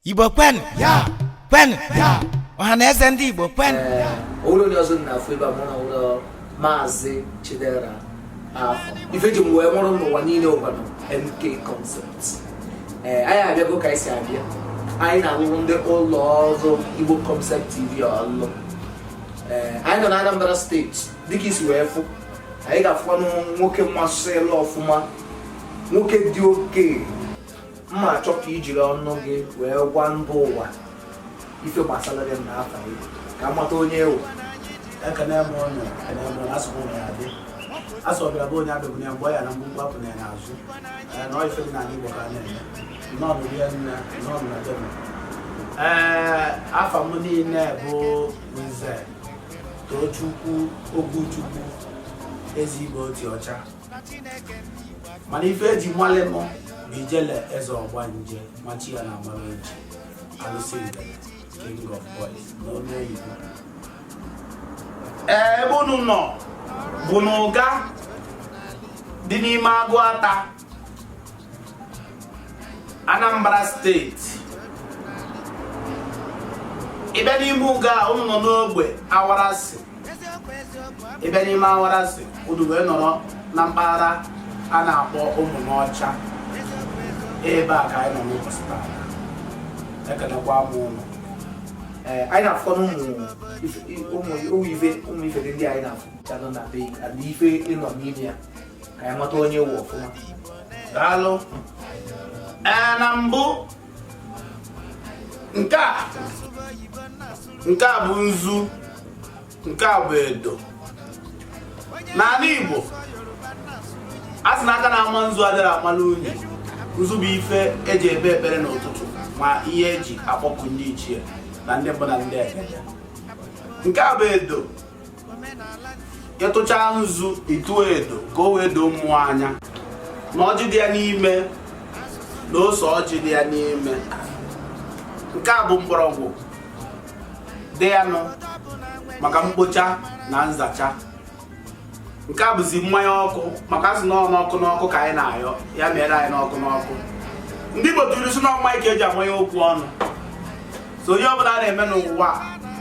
igbo kwenụ ya kwenụ ya ọha na eze ndị igbo kwenụ ya onwere onye ọzọ na-afụ ebe a mụ na nwere maazị chidera afọ ife ji m wee nwụrụ n'ụwa niile ụbana mk concept ee anyị abịago ka anyị si abịa anyị na-alụrụ ndị ụlọ ọrụ igbo concept tv ọlụ ee anyị nọ na anambra steeti dịka i si wee fụ anyị ga-afụkwanụ nwoke mmasịla ọfụma nwoke dị oke mma a chọ ka i jiri ọnụ gị wee gwa mba ụwa ife gbasara gị na afa gị ka a mata onye ị wụ ekene m ụnụ ekene m ụnụ asụkwụ na ya dị asụ ọbịara be onye abịagbuna ya mgbe ọ ya-ana mkpumkpu apụna ya n'azụ ee na ife dị n'ala igbo ka a na-eme nnọọ rinne nnọọ na deme ee afa m niile bụ nze tochukwu oguchukwu ezigbo oti ọcha mana ife eji malụ m bụ ijele eze ọgbanje ma chi ya na amara eji alụsị king of boys n'olu oyibo ebe unu nọ bụ n'ụga dị n'ime agụata Anambra steeti ị bịa n'ime Ụga ụnụ nọ n'ogbe awarasị ị bịa n'ime awarasị ụnụ wee nọrọ na mpaghara a na-akpọ Ụmụnọcha ebe a ka anyị nọ n'ụbọchị taa ekenekwa m ụnụ ee anyị na-afụ ụmụ ife ndị anyị na-afụ na be ife ị nọ n'ime ya ka anyị mata onye ị wụ ọfụma daalụ ee na mbụ nke a nke a bụ nzu nke a bụ edo n'ala Igbo a sị na aka na-ama nzu adịrọ amala unyi nzu bụ ife eji ekpe ekpere n'ụtụtụ ma ihe eji akpọku ndị ichie na ndị mbụ na ndị egede nke a bụ edo ị tụchaa nzu ị tụọ edo ka o wee doo mmụọ anya na ọjị dị ya n'ime na ose ọjị dị ya n'ime nke a bụ mgbọrọgwụ dị ya nụ maka mkpocha na nzacha nke a bụzi mmanya ọkụ maka a sị na n'ọkụ n'ọkụ ka anyị na-ayọ ya meere anyị n'ọkụ n'ọkụ ndị Igbo tụrụ ilu sị na ọ mmaị ka eji amanye okwu ọnụ so ihe ọbụla a na-eme n'ụwa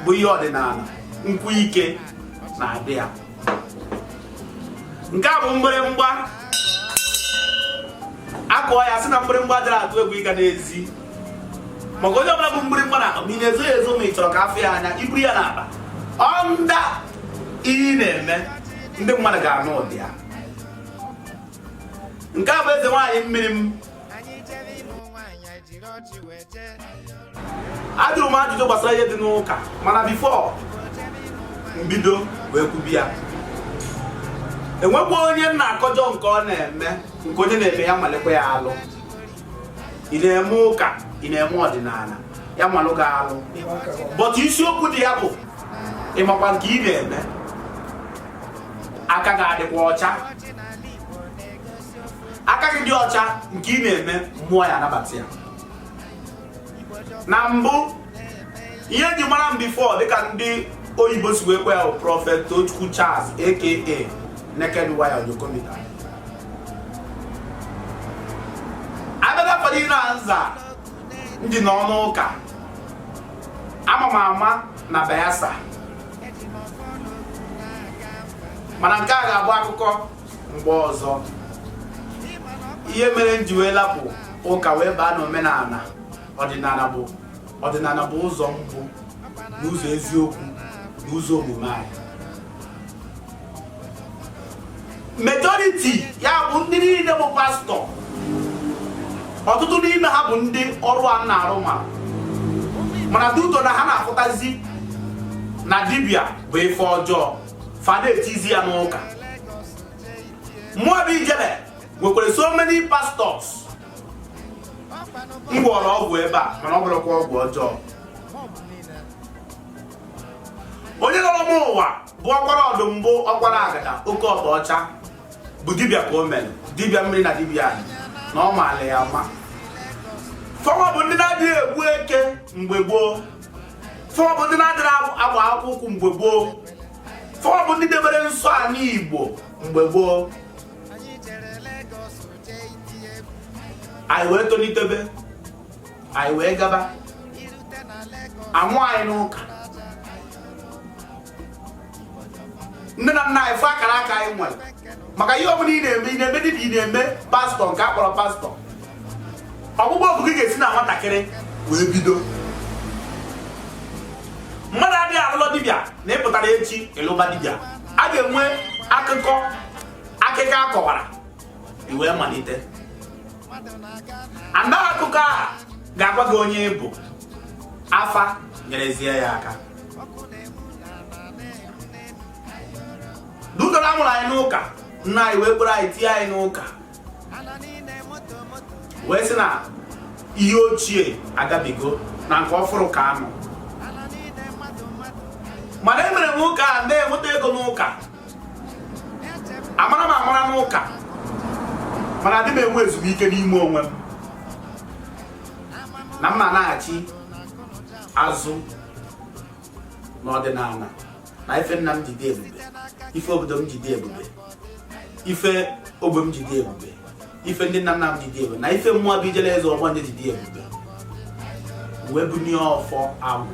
bụ ihe ọdịnala nkwụ ike na-adị ya nke a bụ mgbịrịmgba a kụọ ya a sị na mgbịrịmgba adịrọ atụ egwu ịga n'ezi maka onye ọbụla bu mgbịrịmgba na ma ị na-ezo ya ezo ma ị chọrọ ka a fụ ya anya i buru ya n'akpa ọnda ihe ị na-eme ndị mmadụ ga-anụ ụda ya nke a bụ eze nwaanyị mmiri m ajụrụ m ajụjụ gbasara ihe dị n'ụka mana before m bido wee kwube ya enwekwa onye m na-akọjọ nke ọ na-eme nke onye na-eme ya malụkwa ya alụ ị na-eme ụka ị na-eme ọdịnala ya malụ gị alụ but isiokwu dị ya bụ ịmakwa nke ị na-eme aka gị adịkwa ọcha aka gị dị ọcha nke ị na-eme mmụọ ya anabata ya na mbụ ihe eji mara m before dịka ndị oyibo si wee kwuo ya bụ Prophet Tochukwu Charles aka Naked Wire Onyokomita abịaga fọdụ ire nza ndị nọ n'ụka ama m ama na Bayelsa mana nke a ga-abụ akụkọ mgbe ọzọ ihe mere m ji wee lapụ ụka wee baa n'omenala ọdịnala bụ ụzọ mbụ na ụzọ eziokwu na ụzọ omume anyị majority ya bụ ndị niile bụ pastọ ọtụtụ n'ime ha bụ ndị ọrụ a m na-arụ nwa mana due to na ha na-afụtazi na dibịa bụ ife ọjọọ fa na-etizi ya n'ụka mụwa bụ Ijele nwekwara so many pastors m gwọrọ ọgwụ ebe a mana ọ bụrọkwa ọgwụ ọjọọ onye nọrọ m ụwa bụ ọkwara ọdụ mbụ ọkwara agada oke ọba ọcha bụ dibịa ka o mere dibịa mmiri na dibịa anyị na ọ maala ya mma fawa bụ ndị na-adịghị egbu eke mgbe gboo fa bụ ndị na-adịghị agba akpụkpọ ụkwụ mgbe gboo fa bụ ndị debere nsọ ala Igbo mgbe gboo anyị wee tolitebe anyị wee gaba amụ anyị n'ụka nne na nna anyị fụ akara aka anyị nwere maka ihe ọbụla ị na-eme ị na-eme dịka ị na-eme pastọ nke a kpọrọ pastọ ọkpụkpọ oku gị ga-esi na nwatakịrị wee bido mmadụ adịghị alụ ọlụ dibịa na ị pụtara echi ị lụba dibịa a ga-enwe akụkọ akụkọ akọwara i wee malite and akụkọ a ga-agwa gị onye ị bụ afa nyerezie ya aka dudoro a mụrụ anyị n'ụka nna anyị wee kpọrọ anyị tie anyị n'ụka wee sị na ihe ochie agabigo na nke ọfụrụ ka a nọ mana e mere m ụka a na-enweta ego n'ụka amara m amara n'ụka mana adị m enwe ezumike n'ime onwe m na m ma naghachi azụ n'ọdịnana na ife nna m ji dị ebube ife obodo m ji dị ebube ife ogbe m ji dị ebube ife ndị nna nna m ji dị ebube na ife mụa bụ ijele eze ọgbanje ji dị ebube wee bunie ọfọ agwụ